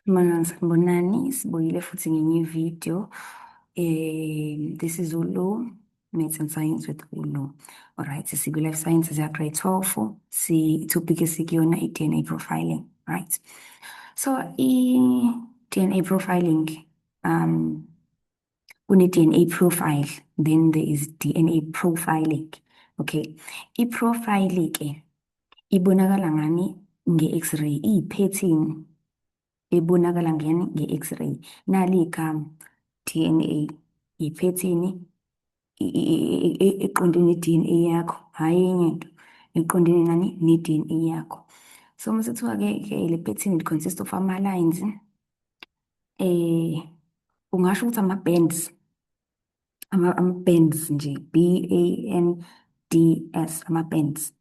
Mangani sanibonani, sibuyile futhi ngenye ivideo. Eh, this is uLu, Maths and Science with uLu. Alright, sikwi-Life Sciences ya-Grade 12, si-topic esikuyona i-DNA profiling, right? So, i-DNA profiling, um, kune-DNA profile then there is DNA profiling okay i-profile ke ibonakala ngani nge-x-ray iyiphethini ebonakala ngani nge-x-ray nali igama DNA iphethini eqonde ne-DNA yakho hhayi enye into eqondene nani ne-DNA yakho so uma sekuthiwa-ke ke le phethini consist of ama-lines eh ungasho ukuthi ama bands ama ama bands nje B A N D S ama bands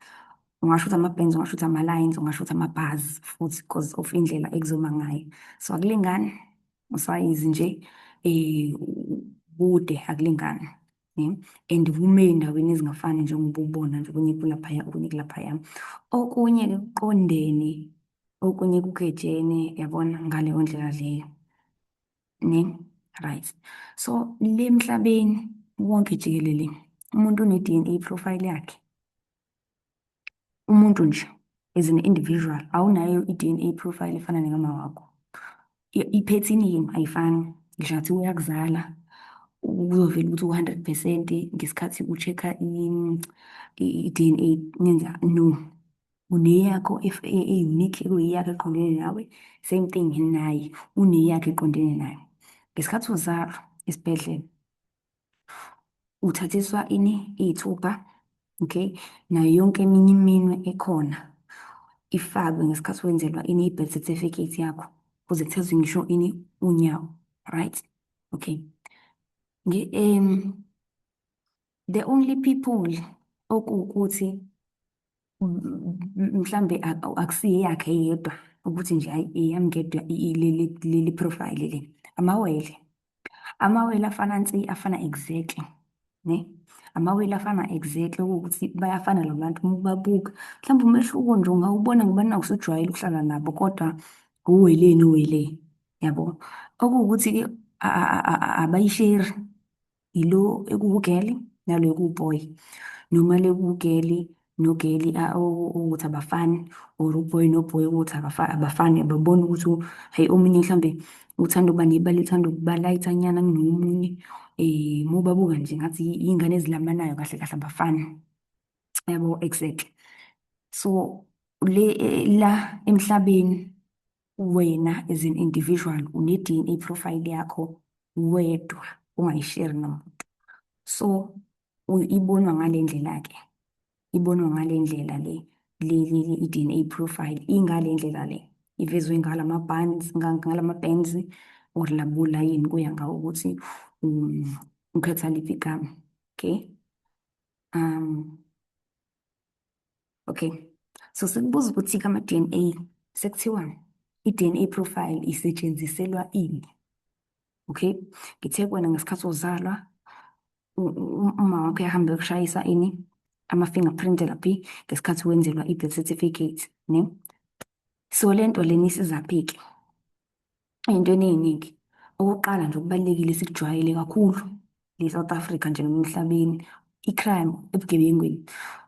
ungasho ukuthi ama bands ungasho ukuthi ama lines ungasho ukuthi ama bars futhi because of indlela ekuzoma ngayo so akulingani usayizi nje eh kude akulingani ne and kume endaweni ezingafani njengoba ubona nje okunye kulaphaya okunye kulaphaya okunye kuqondene okunye kugejene yabona ngaleyo ndlela leyo ne right so le emhlabeni wonke jikelele umuntu une-DNA profile yakhe umuntu nje as an individual awunayo i-DNA profile efana nekama wakho iphethini yini ayifani ngisho ngathi uyakuzala uzovela ukuthi u-hundred percent ngesikhathi u-check-a i-D_N_A nenza no uneyakho e-unique ekuyiyakho eqondene nawe same thing naye uneyakho eqondene naye ngesikhathi uzalwa esibhedlela uthathiswa ini iy'thupha okay nayo yonke eminye iminwe ekhona ifakwe ngesikhathi wenzelwa ini i-birth certificate yakho kuze kuthathwe ngisho ini unyawo right okay um the only people okuwukuthi mhlambe akusiye yakhe yedwa ukuthi nje hayi eyami ngedwa leli profile le amawele amawele afana nsi afana exactly ne amawele afana exactly ukuthi bayafana lo bantu uma ubabuka mhlawumbe umehluko nje ungawubona ngoba naku usujwayele ukuhlala nabo kodwa uwele nowele yabo okuwukuthi-ke abayisheri yilo ekuwugeli nalo ekuwuboy noma lekuwugeli nogeli ukuthi abafani or uboy noboy ukuthi abafani ababoni ukuthi hhayi omunye mhlawumbe uthanda ukuba nebala uthanda ukuba layithanyana kunomunye um uma ubabuka nje ngathi iy'ngane ezilamanayo kahle kahle abafani yabo exactly so le la emhlabeni wena as an individual une-DNA profile yakho wedwa ungayisheri nomuntu so ibonwa ngale ndlela ke ibonwa ngale ndlela le leli i-DNA profile ingale ndlela le ivezwe ngala ma-bands ngala ma-bands or labula yini kuya ngawo ukuthi um, ukhetha liphi igama okay um Okay. So sekubuza ukuthi kama DNA sekuthiwani? I-DNA profile isetshenziselwa ini? Okay. Ngithe kuwena ngesikhathi uzalwa uma wakho yahambe yokushayisa ini ama-fingerprint laphi ngesikhathi wenzelwa i-birth certificate ne so le nto lena isizaphi-ke ey'ntweni ey'ningi. Okokuqala nje okubalulekile sikujwayele kakhulu le-South Africa nje noma emhlabeni, i-crime ebugebengwini.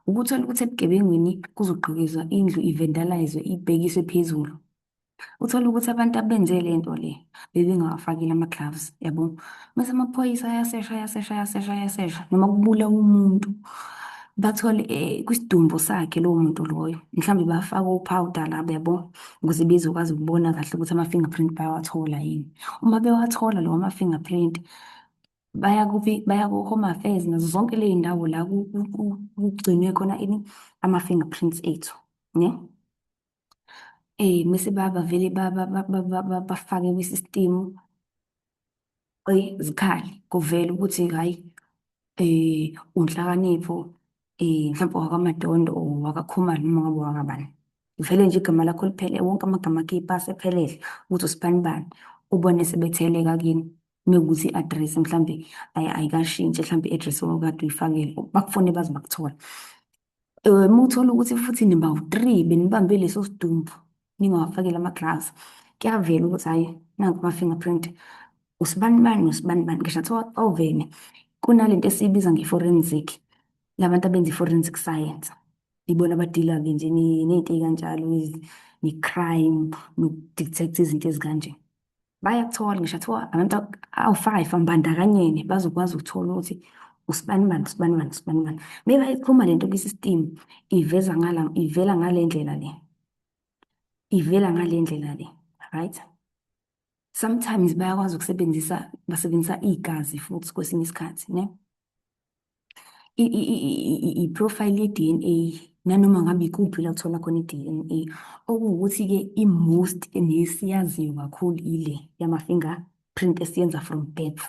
Ukuthola ukuthi ebugebengwini kuzogqekezwa indlu ivendalazwe ibhekiswe phezulu. Uthole ukuthi abantu abenze le nto le bebengawafakile ama-gloves yabo. Mese amaphoyisa ayasesha ayasesha ayasesha ayasesha noma kubulawa umuntu bathole eh, kwisidumbu sakhe lowo muntu loyo mhlawumbe bafake upowder labo yabo ukuze bezokwazi ukubona kahle ukuthi ama-fingerprint bayawathola yini. Uma bewathola lawo ma-fingerprint baya baya ku-Home Affairs nazo zonke ley'ndawo la kugcinwe khona ini ama-fingerprints ethu ne. Mese bavele bafake kwi-system. izikhali kuvela ukuthi hhayi eh uNhlakanipho eh mhlawumbe wakwaMadondo or wakaKhumalo noma ngabe wakabani. Vele nje igama lakho liphele wonke amagama akhe ipasi ephelele ukuthi usibani bani ubone sebetheleka kini mekuthi i-address mhlambe ayikashintshi mhlambe i-address owawukade uyifakile bakufone baze bakuthole. Eh, muthola ukuthi futhi nibawu-three benibambe leso sidumbu ningawafakile ama-gloves kuyavela ukuthi hhayi nanku ama-fingerprint usibanibani nosibanibani ngisho kuthiwa ovene kunale nto esiyibiza nge-forensic labantu abenza i-forensic science ibona abadila-ke nje ne- ney'nto ey'kanjalo ezi- ne-crime noku-detect izinto ezikanje bayakuthola ngisho athiwa abantu awu-five ambandakanyene bazokwazi ukuthola ukuthi usibani bani usibani bani usibani bani maybe ayikhuluma le nto kwi-system iveza ngala ivela ngale ndlela le ivela ngale ndlela le right sometimes bayakwazi ukusebenzisa basebenzisa igazi futhi kwesinye isikhathi ne i-profile ye-DNA nanoma ngabe ikuphi la kuthola khona i-DNA okuwukuthi-ke i-most nesiyaziyo kakhulu ile yama-finger print esiyenza from birth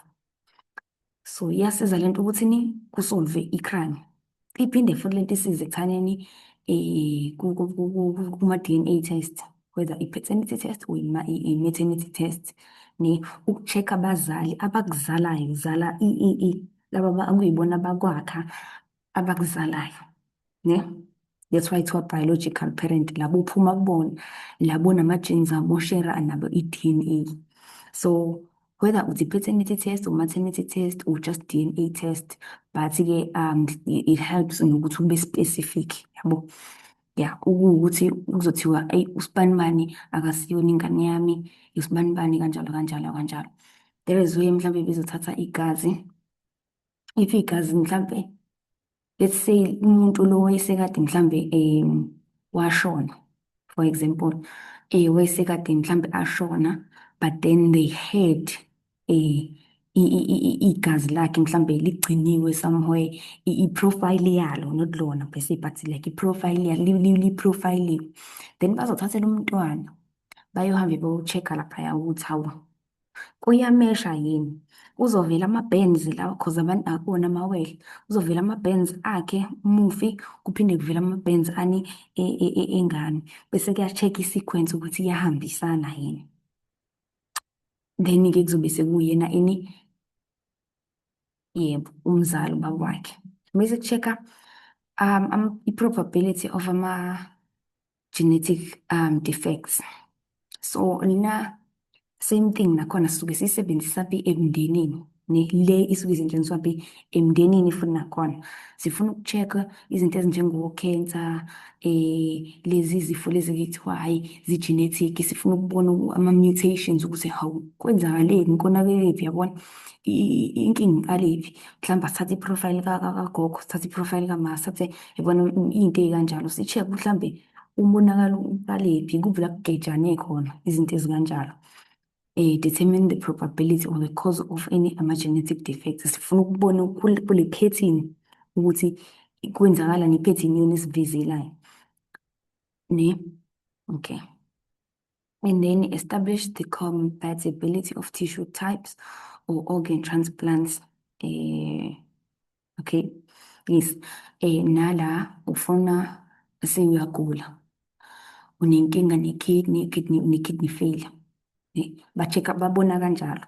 so iyasiza le nto ukuthi ni kusolve i-crime iphinde futhi le nto isize ekuthaneni um kuma-DNA test whether i-paternity test or i-maternity test ne uku-check-a abazali abakuzalayo uzala i-e laba akuyibona abakwakha abakuzalayo ne that's why kuthiwa biological parent labo uphuma kubona labo nama-genes abo shera nabo i-dna so whether it's a paternity test or maternity test or just DNA test but-ke um it helps nokuthi ube specific yabo ya ukuthi kuzothiwa eyi usibanibani akasiyona ingane yami usibanibani kanjalo kanjalo kanjalo there is way mhlawumbe bezothatha igazi if igazi mhlawumbe let's say umuntu lo wayesekade mhlawumbe um washona for example um wayesekade mhlawumbe ashona but then they heard eh igazi lakhe mhlambe ligciniwe somewhere i-profile yalo not lona per se but like i-profile liprofayiliwe then bazothathela umntwana bayohambe bowu-check-a laphaya ukuthi hawu kuyamesha yini kuzovela ama-bands lawa cause abantu akona amawele kuzovela ama-bands akhe umufi kuphinde kuvela ama-bands ani e, e, e, engane bese kuya-check i-sequence ukuthi iyahambisana yini then-ke kuzobe sekuyena ini yebo umzali ubaba wakhe bese ku-check-a um, um, i-probability of ama-genetic um, defects so lina same thing nakhona sisuke siyisebenzisa phi emndenini ne le isuke izintshengiswa be emndenini futhi nakhona sifuna uku-check-a izinto ezinjengo-cancer eh lezi zifo lezi ekuthiwa hhayi zi-genetic sifuna ukubona ama-mutations ukuthi hawu kwenzakaleni konakelephi yabona inkinga iqalephi mhlawumbe asithathe i-profile kagogo sithathe i-profile kama sithathe yabona iy'nto ey'kanjalo si-check mhlawumbe umonakalo uqalephi kuphi la kugejane khona izinto ezikanjalo eh, determine the probability or the cause of any ama-genetic defects sifuna ukubona ukul- kule phethini ukuthi kwenzakala nephethini yona esivizelayo ne okay and then establish the compatibility of tissue types or organ transplants eh, okay yes eh nala ufuna sewuyagula unenkinga ne-kidney kidney une-kidney failure eh, ba-check up babona kanjalo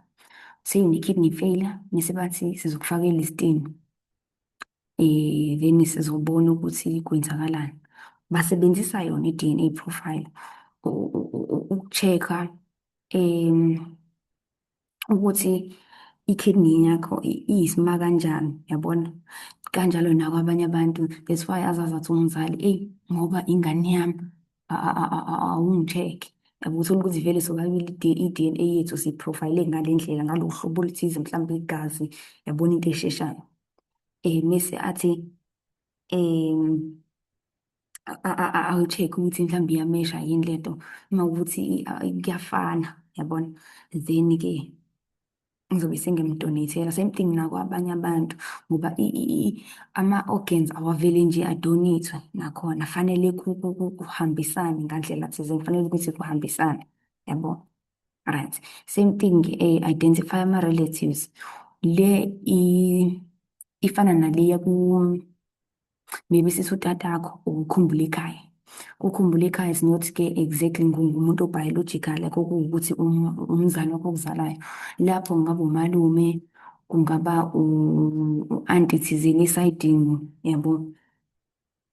seyune-kidney failure mese bathi sizokufakela izitini eh then sizobona ukuthi kwenzakalani basebenzisa yona i-DNA profile uku-check-a um ukuthi i-kidney yakho iyisima kanjani yabona kanjalo nakwabanye abantu that's why azazi athi umzali eyi ngoba ingane yami awungitheke yabo uthole ukuthi vele sobabili i-DNA yethu siyiprofayile ngale ndlela ngalo hlobo oluthize mhlawumbe igazi yabona into esheshayo um mese athi um awu-check ukuthi mhlawumbe iyamesha yini lento uma ukuthi kuyafana yabona then-ke ngizobe sengimdonethela same thing nakwabanye abantu ngoba ama-organs awavele nje adonethwe nakhona fanele kuhambisane ngandlela thizeni kufanele ukuthi kuhambisane yabo right same thing eh, identify ama-relatives le ifana naleya ku maybe sisi utatakho ukukhumbula ikhaya ukhumbula ikhaya is not ke exactly ngumuntu obiological like okuwukuthi um, umzali wakho okuzalayo lapho kungaba umalume kungaba u-anti thizeni esaydini yabo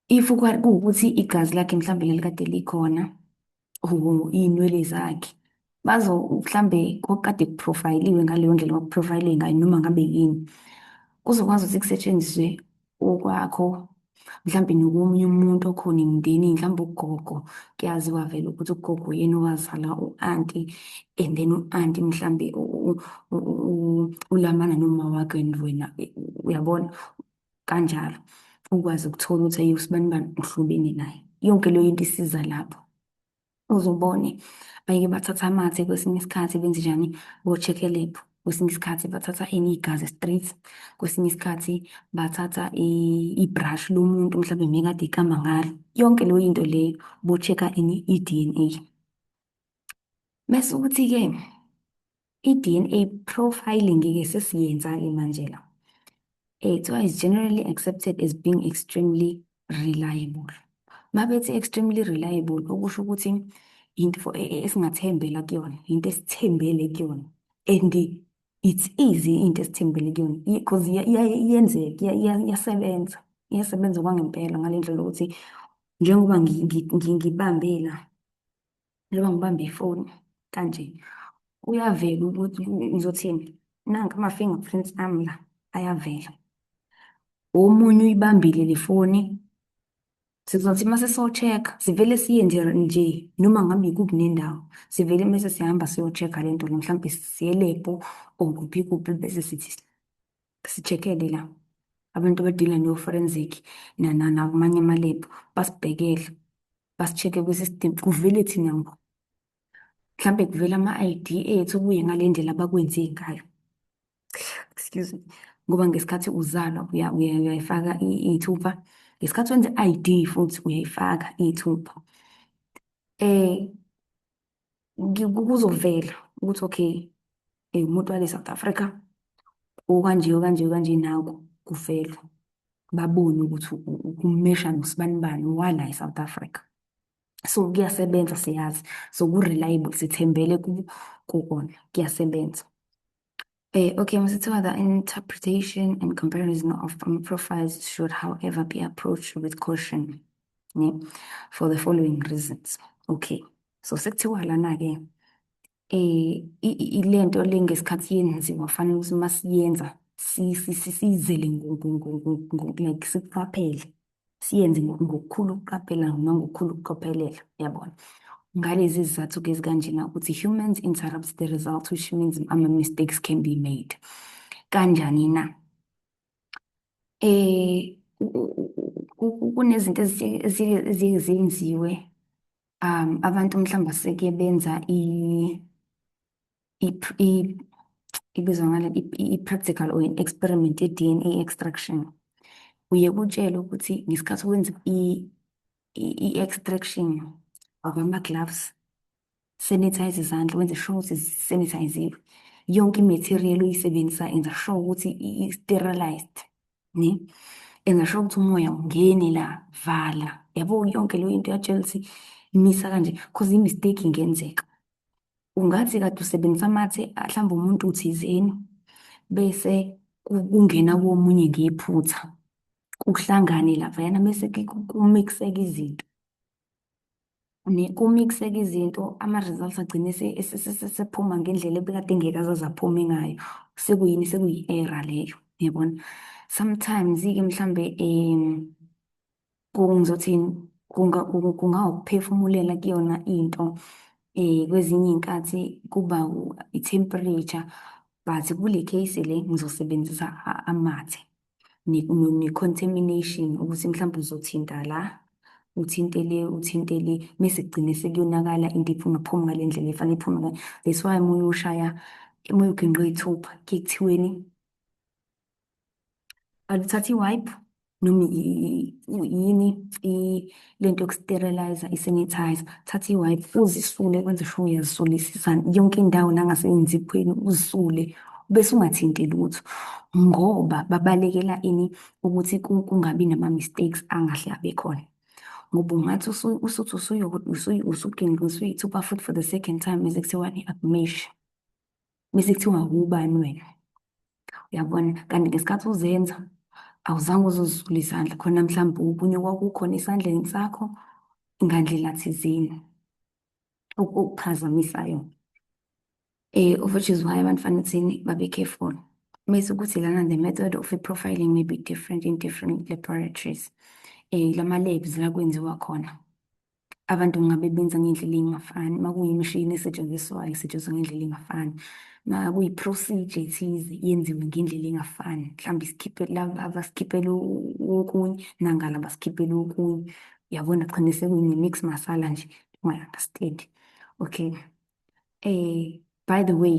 if kuwukuthi igazi lakhe mhlawumbe lelikade likhona or iy'nwele zakhe bazo mhlambe kokade kuprofayiliwe ngaleyo ndlela kwakuprofayilwe ngayo noma ngabe yini kuzokwazi ukuthi kusetshenziswe okwakho mhlambe nokomunye umuntu okhona emndenini mhlambe ugogo kuyaziwa vele ukuthi ugogo yena owazala u-anti and then u-anti mhlambe ulamana noma wakhe and wena uyabona kanjalo ukwazi ukuthola ukuthi ayi usibanibani uhlobene naye yonke leyo into isiza lapho uzobone bayike bathatha amathe kwesinye isikhathi benze njani bo-check-e lab kwesinye isikhathi bathatha enye igazi street kwesinye isikhathi bathatha ibrush lomuntu mhlawumbe mekade ikama ngalo yonke leyo into leyo bo-check-a ini i-DNA mese ukuthi-ke I-DNA profiling-ke sesiyenza-ke manje la. Eh, kuthiwa is generally accepted as being extremely reliable. Uma bethi extremely reliable, okusho ukuthi into e, e, esingathembela kuyona, into esithembele kuyona. And it's easy into esithembele kuyona because iyenzeka, iyasebenza. Iyasebenza okwangempela ngale ndlela yokuthi njengoba ngibambela njengoba ngibambe ifoni kanje kuyavela ukuthi ngizothini nanka ama-fingerprints ami la ayavela omunye uyibambile le foni sizothi uma siso-check-a sivele siye nje nje noma ngabe yikuphi nendawo sivele mese sihamba siyo-check-a le nto le mhlawumbe siye lebho or kuphi kuphi bese sithi si-check-ele la abantu abadila no-forensic namanye amalebhu basibhekele basi-check-e kwi-system kuvele thina ngqo. Mhlampe kuvela ama-ID ethu kuye ngale ndlela abakwenze ngayo. Excuse me. Ngoba ngesikhathi uzalwa uyayifaka iy'thupha. Ngesikhathi wenza i-ID futhi uyayifaka iy'thupha. kuzovela ukuthi okay eh, umuntu wale South Africa okanje okanje okanje naku kuvela babone ukuthi ukumesha nosibani bani wala eSouth Africa so kuyasebenza siyazi so ku-reliable sithembele kukona kuyasebenza Uh, okay, Mr. Tiwa, the interpretation and comparison of um, profiles should, however, be approached with caution yeah, for the following reasons. Okay, so sekuthiwa lana-ke um eh, ile nto le ngesikhathi yenziwa kufanele ukuthi uma siyenza sizele like siqaphele siyenze ngokukhulu ukuqaphela nangokukhulu ukucophelela yabona ngalezi zizathu-ke ezikanjena ukuthi humans interrupts the result which means ama-mistakes can be made kanjani na eh kunezinto eziye zenziwe um abantu mhlawumbe aseke benza ibizwa ngale i-practical or i-experiment ye-DNA extraction uye kutshele ukuthi ngesikhathi wenza i-extraction akwama-gloves sanitize izandla wenze sure ukuthi sanitiziwe yonke i-material uyisebenzisa enza sure ukuthi i-sterilized ne enza sure ukuthi umoya ungeni la vala yabo yonke leyo into yatshela ukuthi misa kanje cause i-mistake ingenzeka ungathi kade usebenzisa amathe mhlawumbe umuntu thizeni bese kungena komunye ngephutha kuhlangane laphayana bese kumixeke izinto kumixeke izinto ama-results agcine sephuma ngendlela ebekade ngeke azaze aphume ngayo sekuyini sekuyi-error leyo yabona sometimes-ke mhlambe um ngizothini kungawukuphefumulela kuyona into um kwezinye iy'nkathi kuba i-temperature but kule case le ngizosebenzisa amathe ne-contamination ukuthi mhlawumbe uzothinta la uthinte le uthinte le mese kugcine sekuyonakala into iphuma phumi ngale ndlela efanele iphume ngayo that's why uma uyoshaya uma uyogingqa iy'thupha kuye kuthiweni aluthathi i-wipe noma yini lento yokusterilize i-sanitizer thatha i-wipe uzisule kwenze sho uyazisulisisa yonke indawo nangasenziphweni uzisule bese ungathinti lutho ngoba babalekela ini ukuthi kungabi nama-mistakes angahle abe khona ngoba ungathi usuthi usuyokuthi usuginqa usuyithupa futhi for the second time bese kuthiwani akumeshe bese kuthiwa ubani wena uyabona kanti ngesikhathi uzenza awuzange uzozula izandla khona mhlawumbe ubunye kwakukhona esandleni sakho ngandlela thizeni okuphazamisayo um eh, of which is why abantu fanele thini babe careful mese ukuthi lana the method of i-profiling may be different in different laboratories um eh, lama-labs la kwenziwa khona abantu ngabe benza ngendlela engafani makuyimishini esetshenziswayo isetshenziswa ngendlela engafani makuyi-procedure ethize yenziwe ngendlela engafani mhlawumbe isikhiphele laba abasikhiphele okunye nangala basikhiphele okunye yabona kugcine sekuyini-mix masala nje ungayi-understand okay um by the way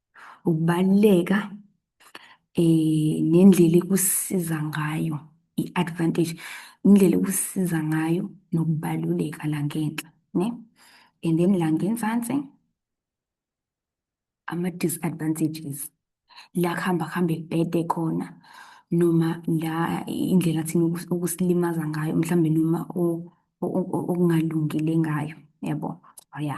ukubaluleka eh nendlela ekusiza ngayo i-advantage indlela ekusiza ngayo nokubaluleka la ngenhla ne and then la ngenzansi ama-disadvantages la kuhamba kuhambe kubhede khona noma la indlela thina okusilimaza ngayo mhlawumbe noma okungalungile ngayo yabo oh ya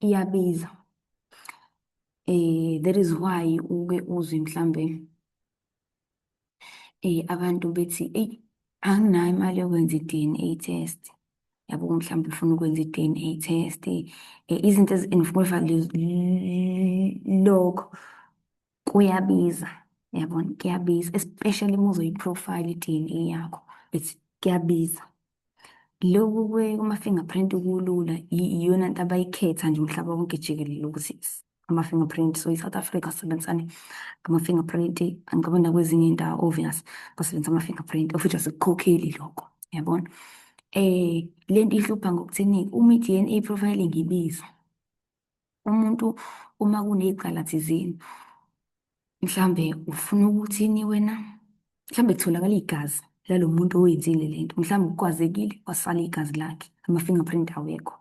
iyabiza eh that is why uke uzwe mhlambe eh abantu bethi ey anginayo imali yokwenza i-DNA test yabo mhlawumbe ufuna ukwenza i-DNA test eh, izinto ezinifuna lokho kuyabiza yabona kuyabiza especially uma uzoyi-profile i-DNA yakho it's kuyabiza loku kuma-fingerprint kulula iyona nto abayikhetha nje umhlaba wonke jikelele ukuthi ama-fingerprint so i-south africa sisebenzisane ama-fingerprint angicabi nakwezinye indawo obvious basebenzisa ama-fingerprint of futhi asikukhokheli lokho yabona um le nto ihlupha ngokuthini uma i-d n a profiling ibiza umuntu uma kunecala thizeni mhlambe ufuna ukuthini wena mhlambe kutholakala igazi lalo muntu oyenzile le nto mhlawumbe ukwazekile wasala igazi lakhe ama-fingerprint awekho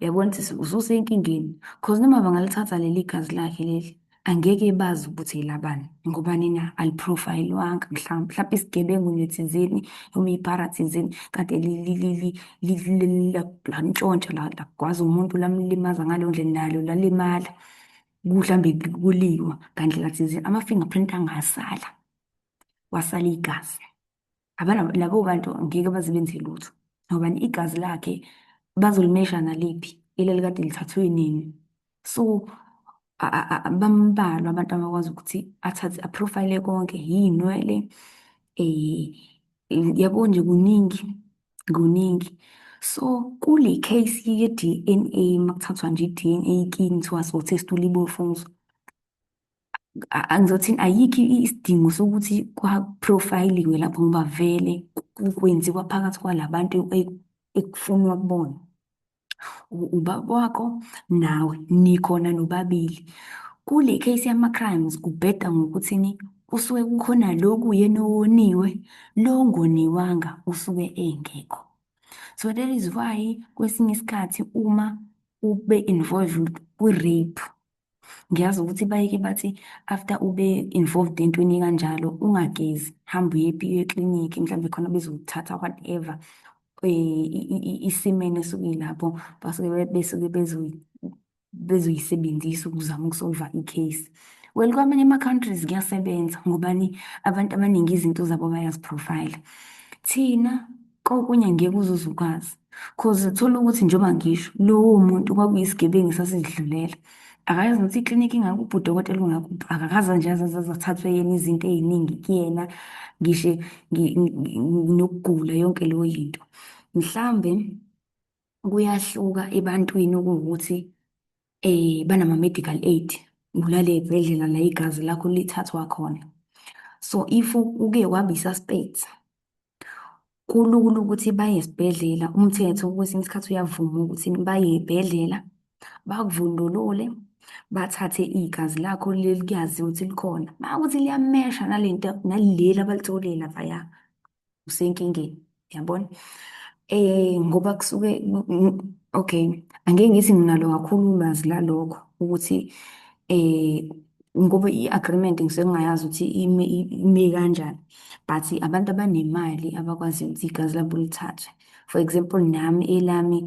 uyabona ukuthi ususenkingeni cause noma bangalithatha leli gazi lakhe leli angeke bazi ukuthi yilabani ngoba nina aliprofayilwanga mhlawumbe mhlawumbe isigebengu nethizeni noma ibhara thizeni kade lantshontsha lagwaza umuntu lamlimaza ngaleyo ndlela nalo lalimala kuhlambe kuliwa ngandlela thizeni ama-fingerprint angasala wasala igazi abana labo bantu ngeke baze benze lutho ngoba igazi lakhe bazolimesha naliphi ileli kade lithathwe nini so bambalwa abantu abakwazi ukuthi athathe aprofile konke yinwele eh yabo nje kuningi kuningi so kule case ye DNA makuthathwa nje DNA kini kuthiwa so test ulibofuzo angizothini ayikho isidingo sokuthi kwaprofayiliwe lapho ngoba vele kwenziwa phakathi kwalabantu ekufunwa kubona ubaba wakho nawe nikhona nobabili kule case yama-crimes kubheda ngokuthini kusuke kukhona lo kuyena owoniwe lo ngoniwanga usuke engekho so that is why kwesinye isikhathi uma ube involved kwi-rape Ngiyazi ukuthi bayeke bathi after ube involved entweni kanjalo ungagezi, hamba uye epiyo eklinikhi mhlawumbe khona bezokuthatha whatever eh, isimene esuke ilapho basuke besuke bezoyisebenzisa ukuzama ukusolva i-case. Well, kwamanye ama-countries kuyasebenza ngobani abantu abaningi izinto zabo bayaziprofayila. Thina Kokunye angeke uze uze ukwazi cause thola ukuthi njengoba ngisho lowo muntu kwakuyisigebengu esasizidlulela akayazi ukuthi iklinikhi ingakuphi udokotela ungakuphi akakaze nje azazathathwe yena izinto ey'ningi kuyena ngishe nokugula yonke leyo yinto mhlawumbe kuyahluka ebantwini ukuthi eh banama-medical aid kulale ey'bhedlela la igazi lakho lithathwa khona. So if uke waba i-suspect, kulula ukuthi baye esibhedlela. Umthetho kwesinye isikhathi uyavuma ukuthi baye ey'bhedlela, bakuvundulule, bathathe igazi lakho leli kuyaziwa ukuthi likhona. Makuwukuthi liyamesha nalento naleli abalitholile laphaya, usenkingeni yabona eh ngoba kusuke okay angeke ngithi nginalo kakhulu ulwazi lalokho ukuthi eh ngoba i-agreement ngisuke ngingayazi ukuthi ime ime kanjani but abantu abanemali abakwazi ukuthi igazi labo lithathwe for example nami elami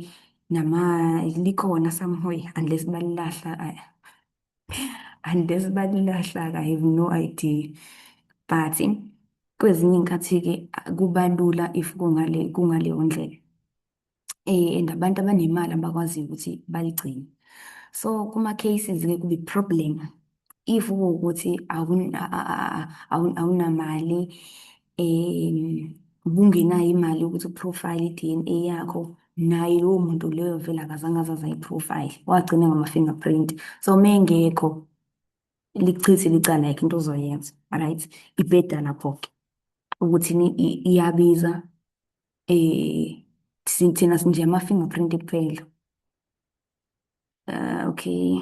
nama likhona somewhere unless balilahla unless balilahlaka i have no idea but kwezinye iy'nkathi-ke kuba lula if kungale kungaleyo ndlela um and abantu abanemali abakwaziyo ukuthi baligcine so kuma-cases-ke kube problem if kuwukuthi awunamali um ubungenayo imali yokuthi uprofayile i-DNA yakho naye lowo muntu leyo vele akazange azaza i-profile wagcina ngama-fingerprint so uma engekho lichithe licala yakhe into ozoyenza right ibheda lapho-ke ukuthi iyabiza um thina sinje ama-fingerprint kuphela Uh, okay.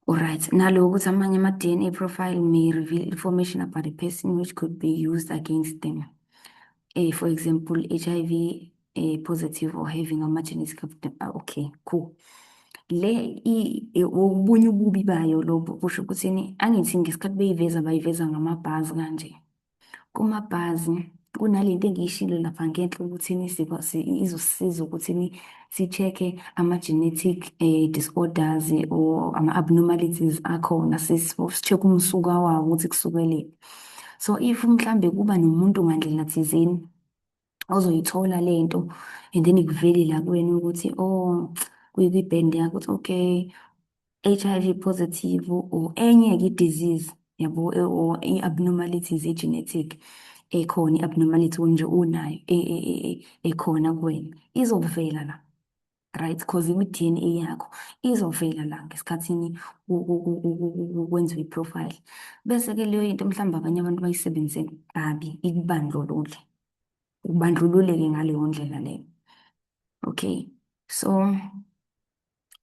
Alright, nalo ukuthi amanye ama-DNA profile may reveal information about a person which could be used against them. Uh, for example, HIV uh, eh, positive or having ama-genetic... Ah, okay, cool. le ubunye ububi bayo lobo kusho ukuthini angithi ngesikhathi beyiveza bayiveza ngamabhazi kanje kumabhazi kunalento engiyishilo lapha ngenhla ukuthi izosisiza ukuthi si-check-e ama-genetic eh, disorders or ama-abnormalities akhona si-check umsuka wawo ukuthi kusukelephi so if mhlambe kuba nomuntu ngandlela thizeni ozoyithola le nto and then ikuveli la kuwena ukuthi o oh, kuyikwi-band yakho ukuthi okay HIV positive or enye-ke i-disease yabo e, or i-abnormalities e-genetic ekhona i-abnormality nje unayo e, e, ekhona kuwena izokuvela la right because imi-DNA yakho izovela la ngesikhathini kwenziwa i-profile bese-ke leyo into mhlawumbe abanye abantu bayisebenzise kabi ikubandlulule ubandlululeke ngaleyo ndlela leyo okay so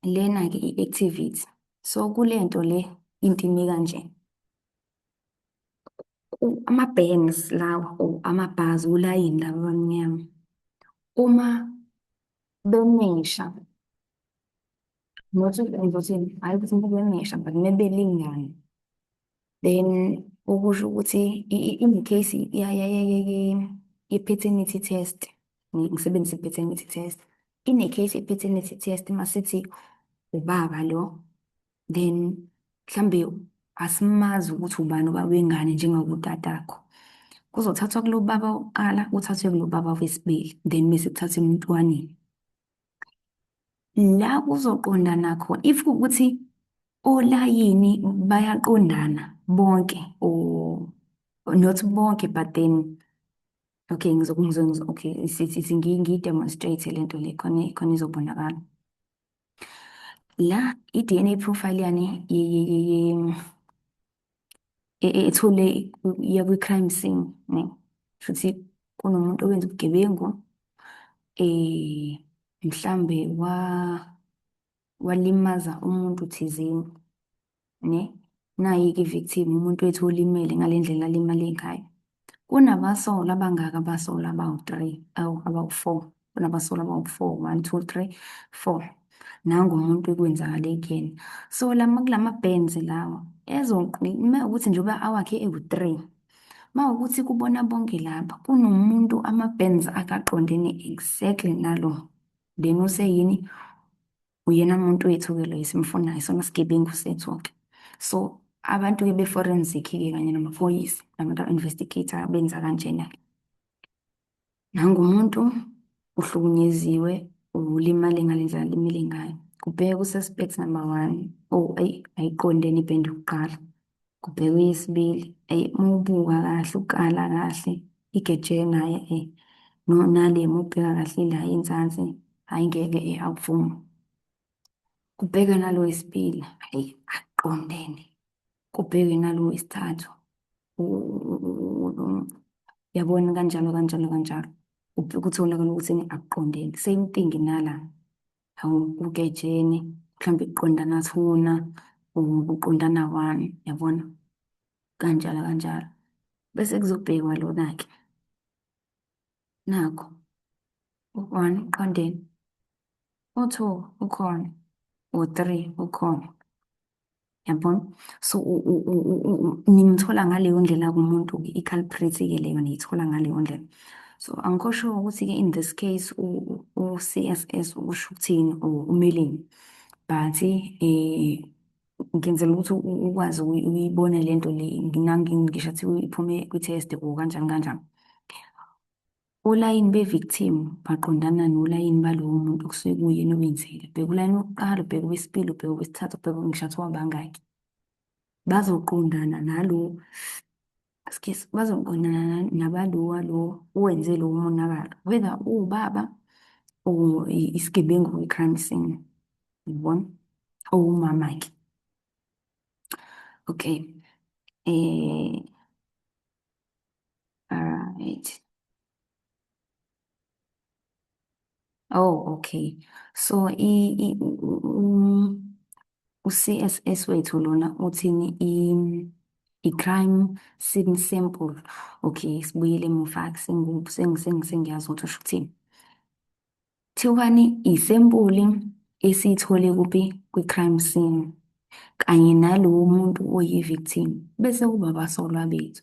lena-ke i-activity so kule nto le into ime kanje ama-bangs lawa or amabhazi ulayini laba abamnyama uma bemisha not ukuthi hhayi ukuthi umuntu bemisha but mebelingana then okusho ukuthi in the case ye-paternity test ngisebenzisa i-paternity test in a case ye-paternity test masithi ubaba lo then mhlambe asimazi ukuthi ubani ubaba wengane njengakotatakho kuzothathwa kulo baba wokuqala kuthathwe kulo baba wesibili then bese kuthathwa emntwaneni la kuzoqondana khona if ukuthi olayini bayaqondana bonke or not bonke but then okay ngizokuzwa okay sithi ngiyi demonstrate lento le khona khona izobonakala la i-DNA profile yani ethole iya kwi-crime scene ne futhi kunomuntu owenza ubugebengu eh mhlambe wa walimaza umuntu thizeni ne nayi-ke i-victim umuntu wethu olimele ngale ndlela alimale ngayo kunabasolwa abangaka abasolwa abawu-three awu abawu-four kunabasolwa abawu-four one two three four nangu umuntu ekwenzakale kuyena so lama kulama bands lawa ezoqi uma ukuthi njengoba awakhe ewu-three uma ukuthi kubona bonke lapha kunomuntu ama-bands akaqondene exactly nalo then useyini uyena muntu wethu-ke loyo simfunayo sona sigebengu sethu-ke so abantu-ke be-forensic-ke kanye namaphoyisa nabantu aba-investigator benza kanjena-ke nangumuntu uhlukunyeziwe ulimale ngale ndlela alimele ngayo kubheke ku-suspect number one oh ayi ayiqondene ibhende yokuqala kubhekwe yesibili eyi uma ubuka kahle ukala kahle igeje naye e nale uma ubheka kahle ila inzansi hhayi ngeke e akuvumi kubheke nalo wesibili hhayi aqondene kubheke nalo wesithathu yabona kanjalo kanjalo kanjalo ukutholakala ukuthi akuqondene same thing nala uketsheni mhlawumbe kuqondana thuna or kuqondana one yabona kanjalo kanjalo bese kuzobhekwa lona-ke nakho u-one uqondeni u-two ukhona u-three ukhona Yabona? So nimthola ngaleyo ndlela kumuntu i-culprit-ke leyo niyithola ngaleyo ndlela. So angikho sure ukuthi-ke in this case u-CSS usho ukuthini or umeleni. But eh ngenzela ukuthi ukwazi ukuyibona lento le ngisho kuthiwa iphume kwi-test or kanjani kanjani. Olayini be-victim baqondana nolayini balowo muntu okusuke kuyena owenzile. Bheka ulayini wokuqala, ubheke owesibili, ubheke owesithathu, ubheke ngihlatshwa wabangaki. Bazoqondana nalo excuse, bazoqondana na- nabalo walo owenze lowo monakalo, whether uwubaba or i- isigebengu kwi-crime scene, yabona, or umama-ke. Okay, eh, Alright. Oh, okay. So i, i um, u-CSS wethu lona uthini i i-crime scene sample. Okay, sibuyele emuva sengiyazi ukuthi usho ukuthini. Thiwani isempuli esiyithole kuphi kwi-crime scene kanye nalowo muntu oyi-victim bese kuba abasolwa bethu.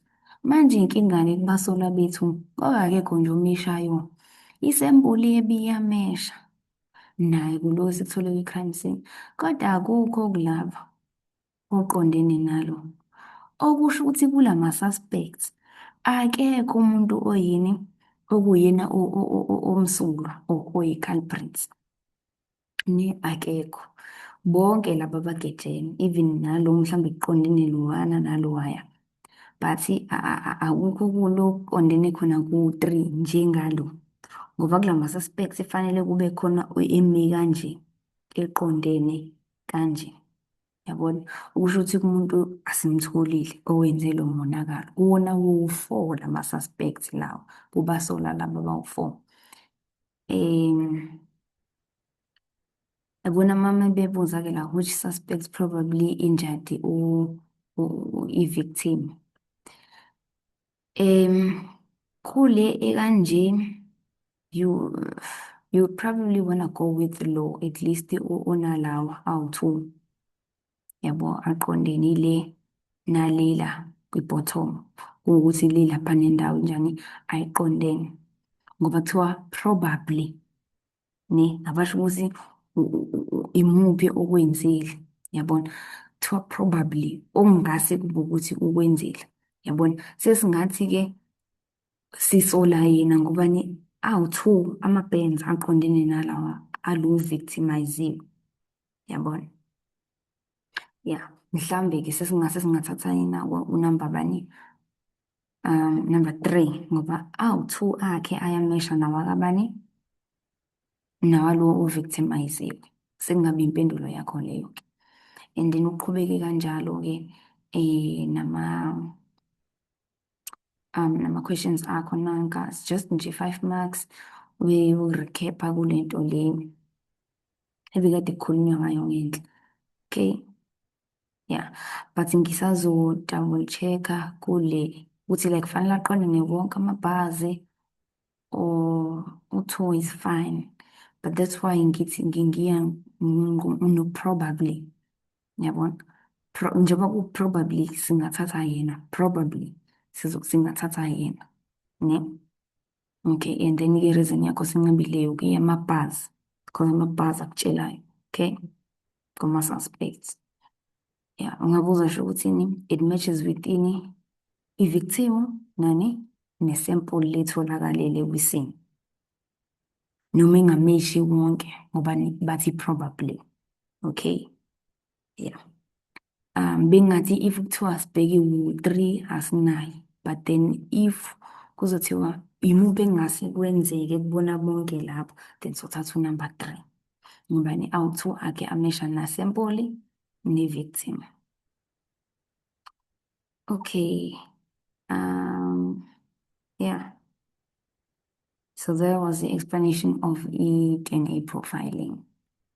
Manje inkinga-ke kubasolwa bethu ngoba akekho nje omeshayo. Isempuli yebiyamesha naye kulowo esikuthole kwi-crime scene kodwa akukho okulapho. oqondene nalo, okusho ukuthi kula ma-suspects akekho umuntu oyini okuyena omsulwa or oyi-culprits. Ne, akekho. Bonke laba bagejene, even nalo mhlawumbe kuqondene lowana nalowaya. But akukho kulokuqondene khona ku-three njengalo. Ngoba kula ma-suspects kufanele kube khona emi kanje eqondene kanje. Yabona? Okusho ukuthi kumuntu asimtholile owenze lo monakalo. Kuwona wowu-four lama-suspect lawa, kubasolwa laba abawu-four. Um, yabona uma mebebuza-ke la which suspect probably injured u- u- u- i-victim. Um, kule ekanje you you probably wanna go with law at least unalawa awu-two yabo aqondene le nalela kwi-bottom kuwukuthi le lapha nendawo njani ayiqondene ngoba kuthiwa probably ne abasho ukuthi imuphi okwenzile yabona kuthiwa probably okungase kube ukuthi ukwenzile yabona sesingathi-ke sisola yena ngoba ni awu-two ama-bands aqondene nalawa alu-victimiziwe yabona ya mhlawumbe-ke sesingase singathatha yena unamba bani um number three ngoba awu-two akhe ayamesha nawakabani nawalowo ovictimiziwe sekungabe impendulo yakho leyo-ke and then uqhubeke kanjalo-ke um nama um nama-questions akho nanka just nje five marks uyorecapha kule nto le ebikade kukhulunywa ngayo ngenhla okay yeah but ngisazo double checker kule ukuthi like fanele aqonde newonke amabhazi or u-two is fine but that's why ngithi ngingiya no probably yabona Pro, njengoba ku-probably singathatha yena probably singathatha yena ne okay and then ke reason yakho sincibileyo ke yama bars because ama bars akutshelayo okay kuma suspects yeah ungabuza nje ukuthi ni it matches with ini i victim nani ne sample letholakalele kwisini noma ingameshi wonke ngoba bathi probably okay yeah um bengathi if kuthiwa sibheke u-three asinayo but then if kuzothiwa yimuphi engase kwenzeke kubona bonke lapho then sothatha unumber three ngobani awu-two akhe amesha nasempoli ne-victim okay um yeah so there was the explanation of i-dna profiling